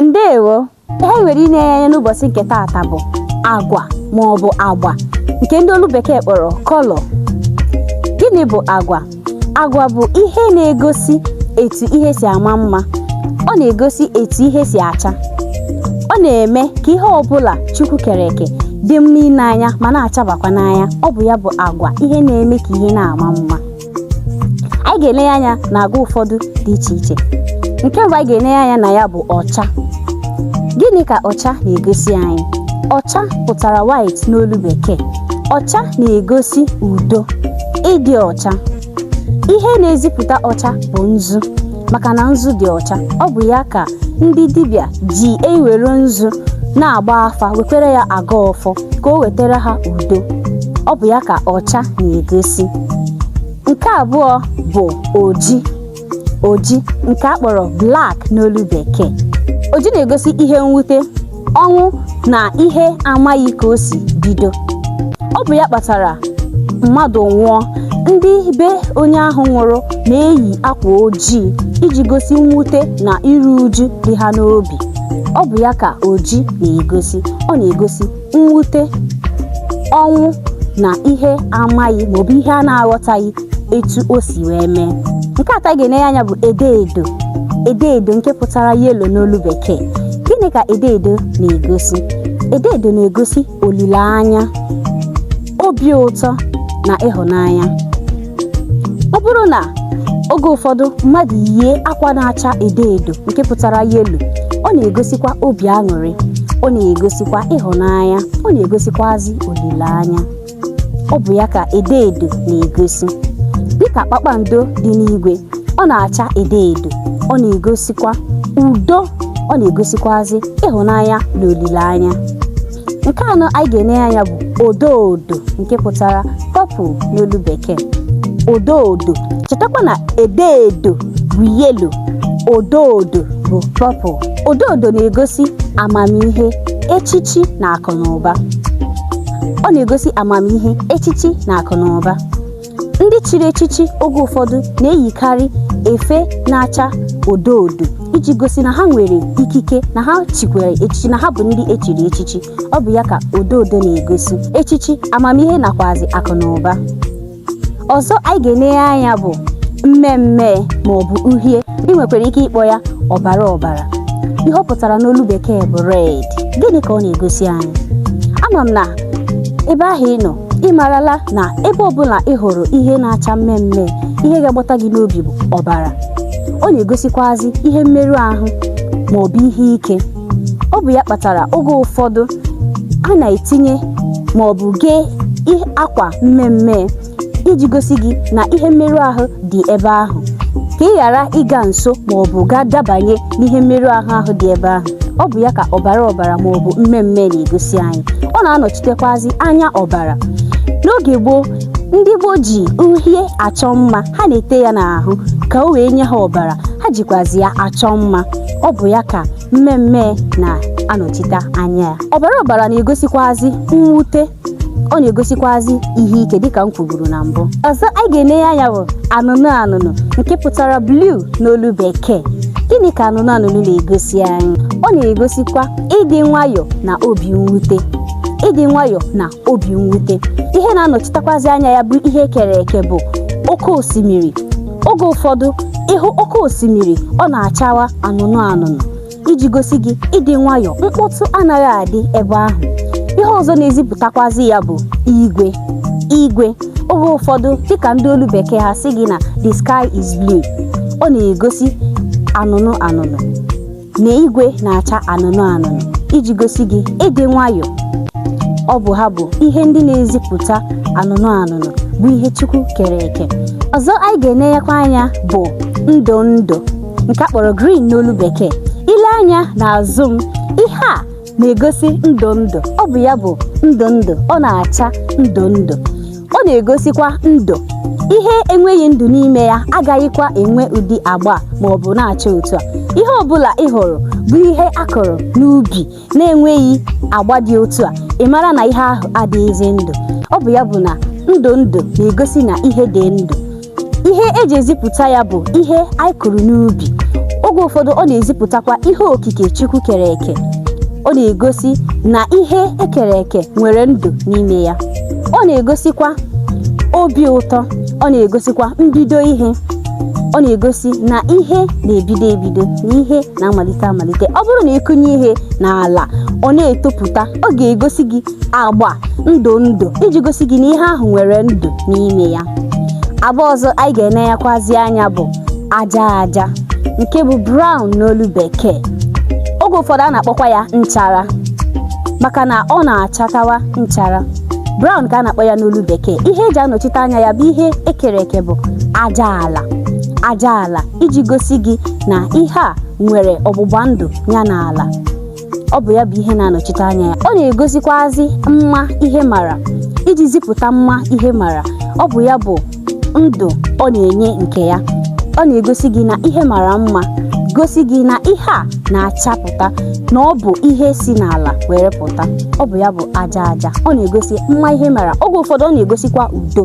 ndewo ihe anyị nwere ile ya anya n'ụbọchị nke taata bụ agwa ma ọ bụ agba nke ndị olu bekee kpọrọ kọlọ gịnị bụ agwa agwa bụ ihe na-egosi etu ihe si ama mma ọ na-egosi etu ihe si acha ọ na-eme ka ihe ọbụla chukwu kere eke dị mma ile anya ma na-achabakwa n'anya ọ bụ ya bụ agwa ihe na-eme ka ihe na-ama mma anyị ga-ele ya anya na agwa ụfọdụ dị iche iche nke mbụ anyị ga-ele ya anya na ya bụ ọcha gịnị ka ọcha na-egosi anyị ọcha pụtara white n'olu bekee ọcha na-egosi udo ịdị ọcha ihe na-ezipụta ọcha bụ nzu maka na nzu dị ọcha ọ bụ ya ka ndị dibịa ji ewere nzu na-agba afa wekwere ya agọ ọfọ ka o wetara ha udo ọ bụ ya ka ọcha na-egosi nke abụọ bụ oji oji nke a kpọrọ black n'olu bekee oji na-egosi ihe mwute ọnwụ na ihe amaghị ka o si bido ọ bụ ya kpatara mmadụ nwụọ ndị be onye ahụ nwụrụ na-eyi akwa ojii iji gosi mwute na iru uju dị ha n'obi ọ bụ ya ka oji na-egosi ọ na-egosi mwute ọnwụ na ihe amaghị maọbụ ihe a na-aghọtaghị etu o si wee mee nke atọ anyị ga-ele anya bụ edo edo edo edo nke pụtara yelo n'olu bekee gịnị ka edo edo na-egosi edo edo na-egosi olileanya obi ụtọ na ịhụnanya ọ bụrụ na oge ụfọdụ mmadụ yie akwa na-acha edo edo nke pụtara yelo ọ na-egosikwa obi aṅụrị ọ na-egosikwa ịhụnanya ọ na-egosikwazi olileanya ọ bụ ya ka edo edo na-egosi dịka kpakpando dị n'igwe ọ na-acha edo edo ọ na-egosikwa udo ọ na-egosikwazi ịhụnanya na olileanya nke anọ anyị ga-ele ya anya bụ odo odo nke pụtara pọpụl n'olu bekee odo odo chetakwa na edo edo bụ yelo odo odo bụ pọpụl odo odo na-egosi amamihe echichi na akụ na ụba ọ na-egosi amamihe echichi na akụ na ụba ndị chiri echichi oge ụfọdụ na-eyikarị efe na-acha odo odo iji gosi na ha nwere ikike na ha chikwara echichi na ha bụ ndị e chiri echichi ọ bụ ya ka odo odo na-egosi echichi amamihe nakwazi akụ na ụba ọzọ anyị ga-enenye anya bụ mmee mmee ma ọ bụ uhie ị nwekwara ike ịkpọ ya ọbara ọbara ihe ọ pụtara n'olu bekee bụ red gịnị ka ọ na-egosi anyị ama m na ebe ahụ ị nọ ị marala na ebe ọbụla ị hụrụ ihe na-acha mmee mmee ihe ga-agbata gị n'obi bụ ọbara ọ na-egosikwazi ihe mmerụ ahụ ma ọ bụ ihe ike ọ bụ ya kpatara oge ụfọdụ a na-etinye ma ọ bụ kee akwa mmee mmee iji gosi gị na ihe mmerụ ahụ dị ebe ahụ ka ị ghara ịga nso ma ọ bụ gaa dabanye n'ihe mmerụ ahụ ahụ dị ebe ahụ ọ bụ ya ka ọbara ọbara ma ọ bụ mmee mmee na-egosi anyị ọ na-anọchitekwazi anya ọbara n'oge gboo ndị gboo ji uhie achọ mma ha na-ete ya n'ahụ ka o wee nye ha ọbara ha jikwazi ya achọ mma ọ bụ ya ka mmee mmee na-anọchite anya ya ọbara ọbara na-egosikwazi mwute ọ na-egosikwazi ihe ike dịka m kwuburu na mbụ ọzọ anyị ga-enenye anya bụ anụnụ anụnụ nke pụtara blue n'olu bekee gịnị ka anụnụ anụnụ na-egosi anyị ọ na-egosikwa ịdị nwayọọ na obi mwute ịdị nwayọọ na obi mwute ihe na-anọchitekwazi anya ya bụ ihe e kere eke bụ oke osimiri oge ụfọdụ ị hụ oke osimiri ọ na-achawa anụnụ anụnụ iji gosi gị ịdị nwayọọ mkpọtụ anaghị adị ebe ahụ ihe ọzọ na-ezipụtakwazi ya bụ igwe igwe oge ụfọdụ dịka ndị olu bekee ha sị gị na the sky is blue ọ na-egosi anụnụ anụnụ na igwe na-acha anụnụ anụnụ iji gosi gị ịdị nwayọọ ọ bụ ha bụ ihe ndị na-ezipụta anụnụ anụnụ bụ ihe Chukwu kere eke ọzọ anyị ga-enenyekwa anya bụ ndụ ndụ nke a kpọrọ green n'olu bekee i lee anya n'azụ m ihe a na-egosi ndụ ndụ ọ bụ ya bụ ndụ ndụ ọ na-acha ndụ ndụ ọ na-egosikwa ndụ ihe enweghị ndụ n'ime ya agaghịkwa enwe ụdị agba ma ọ bụ na-acha otu a ihe ọbụla ị hụrụ bụ ihe a kụrụ n'ubi na-enweghị agba dị otu a ị mara na ihe ahụ adịghịzi ndụ ọ bụ ya bụ na ndụ ndụ na-egosi na ihe dị ndụ ihe e ji ezipụta ya bụ ihe anyị kụrụ n'ubi oge ụfọdụ ọ na-ezipụtakwa ihe okike Chukwu kere eke ọ na-egosi na ihe e kere eke nwere ndụ n'ime ya ọ na-egosikwa obi ụtọ ọ na-egosikwa mbido ihe ọ na-egosi na ihe na-ebido ebido na ihe na-amalite amalite ọ bụrụ na ị kụnye ihe n'ala ọ na-etopụta ọ ga-egosi gị agba ndụ ndụ iji gosi gị na ihe ahụ nwere ndụ n'ime ya agba ọzọ anyị ga-ene ya kwazi anya bụ aja aja nke bụ brown n'olu bekee oge ụfọdụ a na-akpọkwa ya nchara maka na ọ na-achatawa nchara brown ka a na-akpọ ya n'olu bekee ihe eji anọchite anya ya bụ ihe ekere eke bụ aja ala aja ala iji gosi gị na ihe a nwere ọgbụgba ndụ ya na ala ọ bụ ya bụ ihe na-anọchite anya ya ọ na-egosikwazi mma ihe mara iji zipụta mma ihe mara ọ bụ ya bụ ndụ ọ na-enye nke ya ọ na-egosi gị na ihe mara mma gosi gị na ihe a na-achapụta na ọ bụ ihe si n'ala were pụta ọ bụ ya bụ aja aja ọ na-egosi mma ihe mara oge ụfọdụ ọ na-egosikwa udo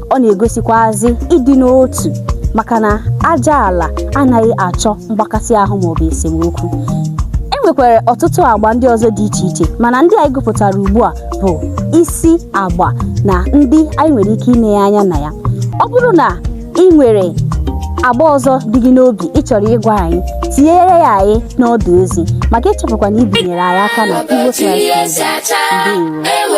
ọ na-egosikwazi ịdị n'otu maka na aja ala anaghị achọ mgbakasị ahụ maọbụ esemokwu e nwekwara ọtụtụ agba ndị ọzọ dị iche iche mana ndị anyị gụpụtara ugbu a bụ isi agba na ndị anyị nwere ike ine ya anya na ya ọ bụrụ na ị nwere agba ọzọ dị gị n'obi ị chọrọ ịgwa anyị tinyere ya anyị n'ọdụ ozi ma gị echefukwana ibinyere anyị aka na Igbo Science Radio. Ndewo.